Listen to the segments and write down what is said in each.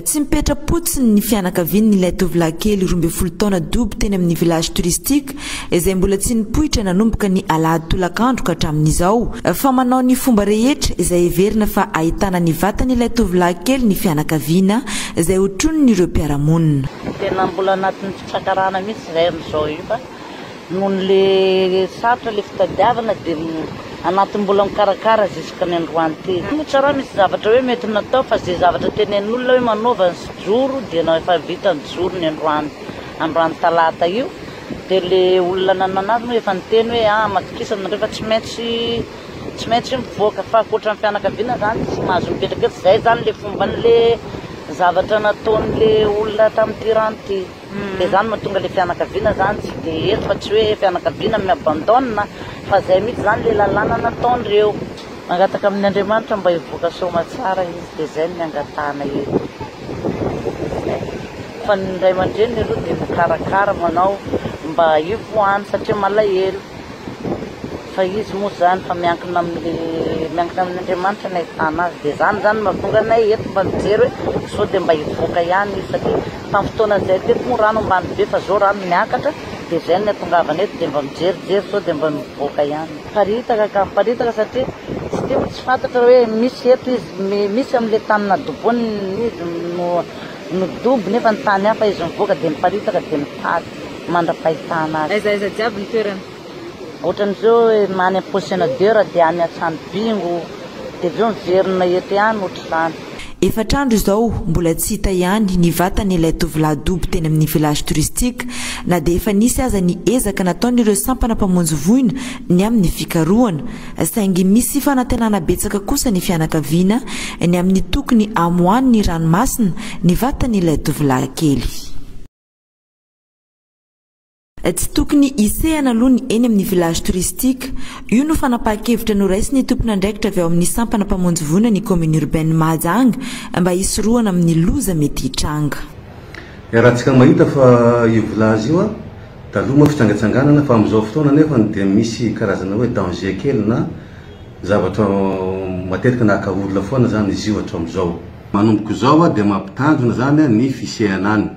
Tsy mipetra-potsiny ny fianakavian'ilay tovolahy kely roa ambin'ny folo taona dobo teny amin'ny village touristique, izay mbola tsy nipoitra nanomboka ny alahady tolakandro ka hatramin'izao, fa manao ny fomba rehetra izay heverina fa ahitana ny vatan'ilay tovolahy kely ny fianakaviana, izay hotronin'ireo mpiara-monina. Tena mbola anatin'ny fitsakarana mihitsy izay amin'izao io fa Nohon le sarotra le fitadiavana de anatin mbola mikarakara jusque ny androany ty. Tsy misy raha misy zavatra hoe mety natao fa ze zavatra tenenin olona hoe manaova ny sijoro de na efa vita ny joro ny androany androany talata io de le olona nanana azy moa efa niteny hoe ah matokisana nareo fa tsy maintsy tsy maintsy mivoaka fa akoatra ny fianakaviana zany tsy mahazo mipetraka eto zay zany le fomban le zavatra nataon le olona tam ty rano ty. Dia izany mahatonga ilay fianakaviana izany tsy dia eto fa tsy hoe fianakaviana mi abandonne fa izay mihitsy izany ilay lalàna nataon'ireo. Mangataka amin'ny Andriamanitra mba hivoaka soamatsara izy dia izay no niangatahana eto fa ny ray aman-dreniny aloha dia mikarakara manao mba hivoahany satria malahelo. fa izy moa zany fa miankina amin'ny miankina amin'Andriamanitra ny ahitana azy dia zany zany mahatonga anay eto mba mijery hoe sao dia mba hivoaka ihany izy satria tamin'ny fotoana izay teto moa rano ambany be fa zao rano miakatra dia zay ny atongavana eto dia mba mijerijery sao dia mba mivoaka ihany miparitaka ka miparitaka satria tsy dia tsy fantatra hoe misy eto izy misy amin'le tany nadobony izy no no dobo nefa ny tany hafa izy mivoaka dia miparitaka dia mitady mandra-pahitana azy. Aiza aiza jiaby ny toerana? Ohatran'izao hoe any am position d'heure dia any an-trano bingo dia avy eo miverina eto ihany ohatr'izany. Efatra andro izao mbola tsy hita ihany ny vatany ilay tovolahy dobo teny amin'ny village touristique na dia efa nisy aza ny ezaka nataon'ireo sampana mpamonjy voina ny amin'ny fikarohana saingy misy fanantenana betsaka kosa ny fianakaviana ny amin'ny tokony hamoahan'ny ranomasina ny vatan'ilay tovolahy kely. Tsy tokony hisehana aloha ny eny amin'ny village touristique. Io no fanapahan-kevitra noraisin'ny tompon'andraikitra avy ao amin'ny sampana mpamonjy voina ny commune urbaine Mahajanga mba hisorohana amin'ny loza mety hitranga. Iarahantsika mahita fa io village io taloha moa fitsangatsanganana fa amin'izao fotoana anefany dia misy karazana hoe danger kely na zavatra matetika nahaka olona foana izany izy io hatramin'izao. Manomboka izao dia mampitanjona izany ny fisehana any.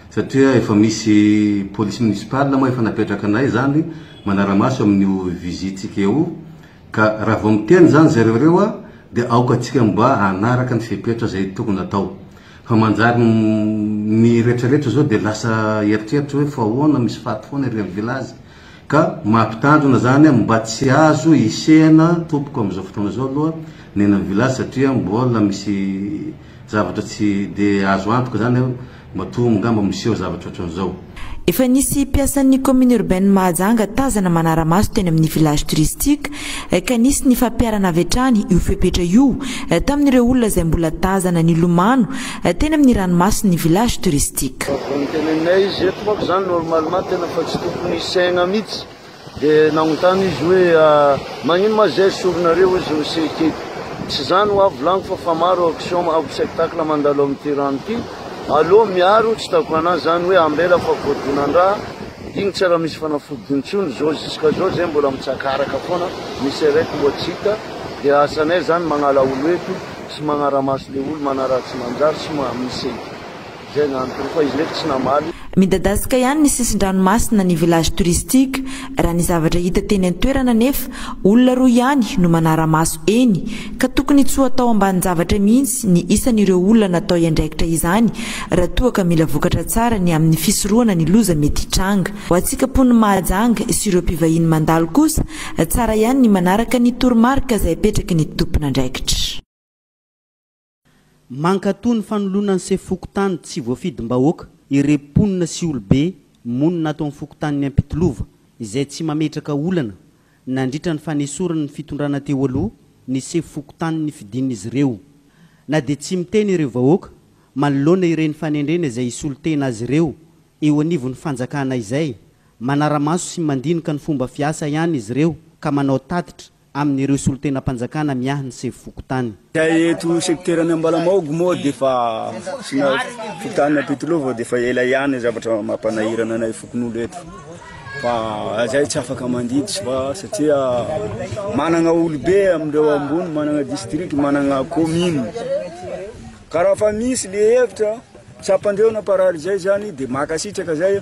Satria efa misy police municipale moa efa napetraka anay izany manara-maso amin'io visite-tsika io, ka raha vao miteny izany zareo ireo dia aoka antsika mba hanaraka ny fepetra izay tokony atao. Fa manjary ny retraretra izao dia lasa eritreritra hoe fa ahoana misy faty foana ery amin'ny village, ka mampitandrina izany mba tsy azo hisehana tompoko amin'izao fotoana izao aloha ny eny amin'ny village satria mbola misy zavatra tsy dia azo antoka izany. Matoa ngamba miseho zavatra ohatran'izao. Efa nisy mpiasan'ny commune urbaine Mahajanga tazana manara-maso teny amin'ny village touristique ka nisy ny fampiharana avy hatrany io fepetra io tamin'ireo olona izay mbola tazana nilomano teny amin'ny ranomason'ny village touristique. Raha vao noteneninay izy eto manko izany normalement tena fa tsy tokony hisaina mihitsy. Dia nagnontany izy hoe, Magnino ma zay soronareo hozy no se teto? Tsy za no avy volagno fa fa maro action avy spectacle mandalo amity rano ty, aleo miaro tsy tako ana zany hoe ambela fa voadonandraha digny tsy raha misy fanafody intsony zo jusqu'à zao zay mbola mitsakaraka foana misy arrête mbola tsy hita dia asanay zany magnala olo eto sy magnaramaso le olo manaratsy manjary sy mamise Izay no antony koa izy nefa tsy namaly. Midadasika ihany ny sisin-dranomasina ny village touristique. Raha ny zavatra hita teny an-toerana anefa, olona roa ihany no manara-maso eny ka tokony tsy ho atao ambanin-javatra mihitsy ny isan'ireo olona natao hiandraikitra izany raha toa ka mila vokatra tsara ny amin'ny fisorohana ny loza mety hitranga ho antsika mponin'i Mahajanga sy ireo mpivahiny mandalo kosa tsara ihany ny manaraka ny toromarika izay apetraky ny tompon'andraikitra. Mankatoa ny fanoloana ny sefo fokontany tsy voafidim-bahoaka ireo mponina sy olobe monina ato amin'ny fokontanin'i Ampitolova izay tsy mametraka olana nandritra ny fanesoran'ny fitondrana teo aloha ny sefo fokontany nifidin'izy ireo. Na dia tsy miteny ireo vahoaka manoloana ireny fanendrena izay hisolo tena azy ireo eo anivon'ny fanjakana izay, manara-maso sy mandinika ny fomba fiasa ihany izy ireo ka manao tatitra amin'ireo solontenam-panjakana miahy ny sefo fokontany. Eto sekiteran'ny Ambalamaogy moa dia efa asiana fokontany Ampitilao vao dia efa ela ihany zavatra mampanahirana anay fokonolona eto fa izay tsy afaka mandidy sy fa satria manana olobe amin'ireo ambony, manana district, manana commune. Ka raha fa misy le hevitra tsapan-dreo na parary izay izany dia mankasitraka izay.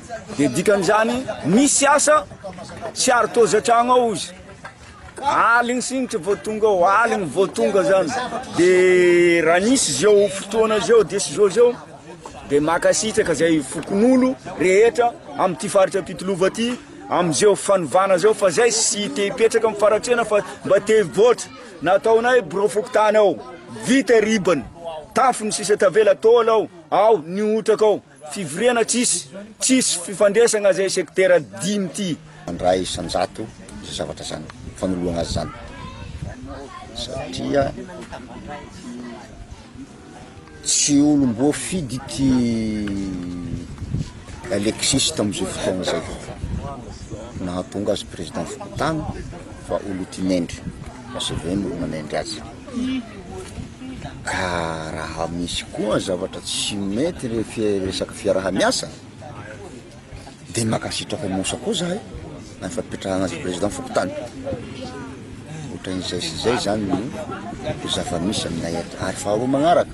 Dia dikan'izany, misy asa tsy ary toa zatragno ao izy. Aligny sinitry vao tonga ao, aligny vao tonga zany. Dia raha nisy zao fotoana zao, dia sy zao zao, dia makasitraka zay fokonolona rehetra amin'ity faritra Ampitolova ity, amin'izao fanovana zao fa zay sy te hipetraka amin'ny faratrena fa mba te hivoatra. Nataonay birao fokontany ao, vita ribany, tafo ny sisa tavela taola ao, ao ny hotraka ao. Fivoriana tsisy tsisy fifandraisana zay secteurs dimy ty. Iray isanjato izay zavatra zany fanoloana azy zany satria tsy olom-boafidy ity Alexis tamin'izay fotoana izay nahatonga azy président fokontany fa olo tinendry fa c'est vrai ny olo nanendry azy. Ka raha misy koa zavatra tsy mety re resaka fiarahamiasa de mankasitraka anao sa koa zahay amin'ny fampipetrahana azy président fokontany otran'izay sy zay zany no zava-misy aminay eto ary faharoa magnaraka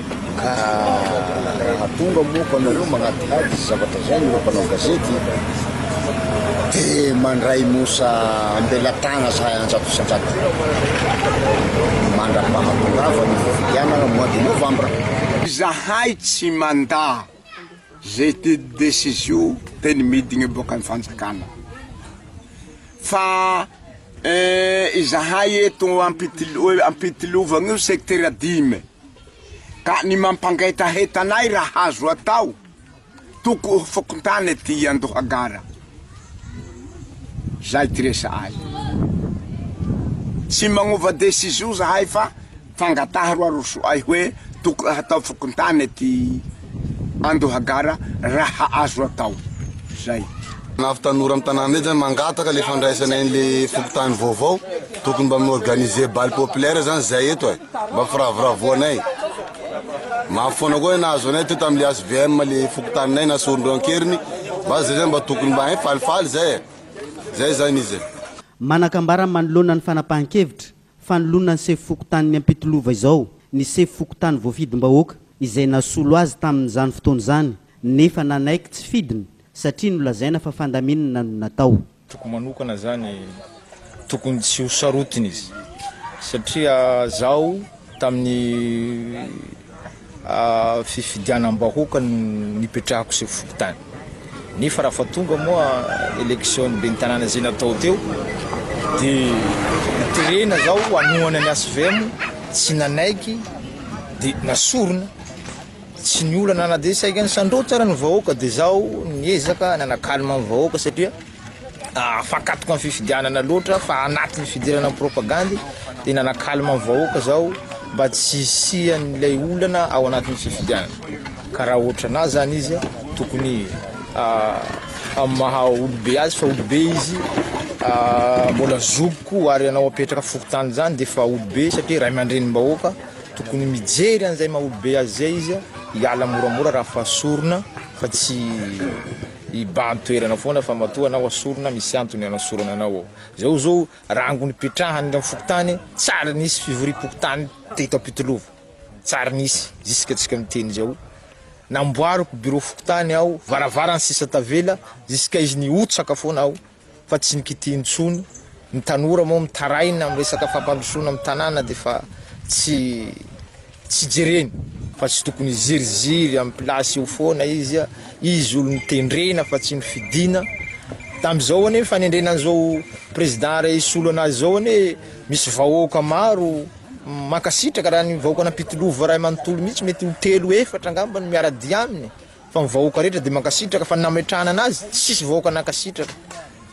Ka raha tonga moa ko anareo magnadihady zavatra zay ireo mpanao gazety dia mandray mosa ambelatagna zahay anjato isanjato mandra-pahatongavany ny fifidianagna mois de novembre. Izahay tsy mandà. Zay te decision teny midina boka ny fanjakana fa izahay eto ampitilovana io secteur dimy ka ny mampangetaheta anay raha azo atao toko fokontany ety andohagara Zay ty resahay. Tsy magnova decision zahay fa fangataha ro arosoay hoe tokony hatao fokontany ty Andohagara raha azo atao. Zay. Anavy tanora am tanàna eto zany mangataka le fandraisanay anle fokontany vaovao tokony mba mi organiser bal populaire zany zay eto e. Mba firavoravoanay. Mafy foana koa ny nahazo anay teo tamin'ilay HVM le fokontaninay na Sorondreo Ankeriny. Mba zay zany mba tokony mba hein falifaly zay e. Zay zany izy e. Manakambara manoloana ny fanapahan-kevitra fanoloana ny sefo fokontanin'ny Ampitolova izao ny sefo fokontany voafidim-bahoaka izay nasolo azy tamin'izany fotoana izany nefa nanaiky tsy fidiny satria nolazaina fa fandaminana no natao. Toko manokana zany tokony tsy ho sarotiny izy satria zaho tamin'ny fifidianam-bahoaka no nipetrahako sy fokontany nefa raha fa tonga moa élection ben'ny tanàna izay natao teo dia terena zaho hanohana ny HVM tsy nanaiky dia nasorona Tsy ny olana na dia saika nisandoha tsara ny vahoaka dia izaho niezaka nana calme ny vahoaka satria afakatoka ny fifidianana loatra fa anatin'ny fidirana ny propagandy dia nana calme ny vahoaka izaho mba tsy hisian'ilay olana ao anatin'ny fifidianana ka raha ohatranà zany izy tokony amin'ny maha olobe azy fa olobe izy mbola zokiko ary ianao apetraka fokontany zany dia efa olobe satria ray aman-drenim-bahoaka Tokony mijery an'izay maha olobe azy izay izy, hiala moramora raha fa sorona fa tsy hibahan-toerana foana fa matoa anao asorina misy antony anasorana anao ao. Izao izao rango nipetrahany amin'ny fokontany tsy ary nisy fivoriam-pokontany teto Ampitilova, tsy ary nisy ziskatsika miteny izao. Namboariko birao fokontany aho, varavarany sisa tavela, ziska izy nihotsaka foana aho. fa tsy nikitiha intsony, ny tanora moa mitaraina amin'ny resaka fampandrosoana amin'ny tanàna dia efa tsy tsy jereny fa tsy tokony hiziriziry amin'ny place eo foana izy, izy olon'ny tendrena fa tsy ny fidina, tamin'izao anie fanendrena an'izao président iray hisolo anazy izao anie misy vahoaka maro mankasitraka raha ny vahoaka an'Ampitolova iray manontolo mihitsy mety ho telo efatra angamba no miara-dia aminy. Fa ny vahoaka rehetra dia mankasitraka fa ny nametrahana anazy tsisy vahoaka nankasitraka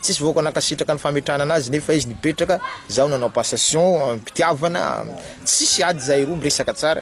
tsisy vahoaka nankasitraka ny fametrahana anazy nefa izy nipetraka zaho nanao passation amim-pitiavana tsisy ady zahay roa miresaka tsara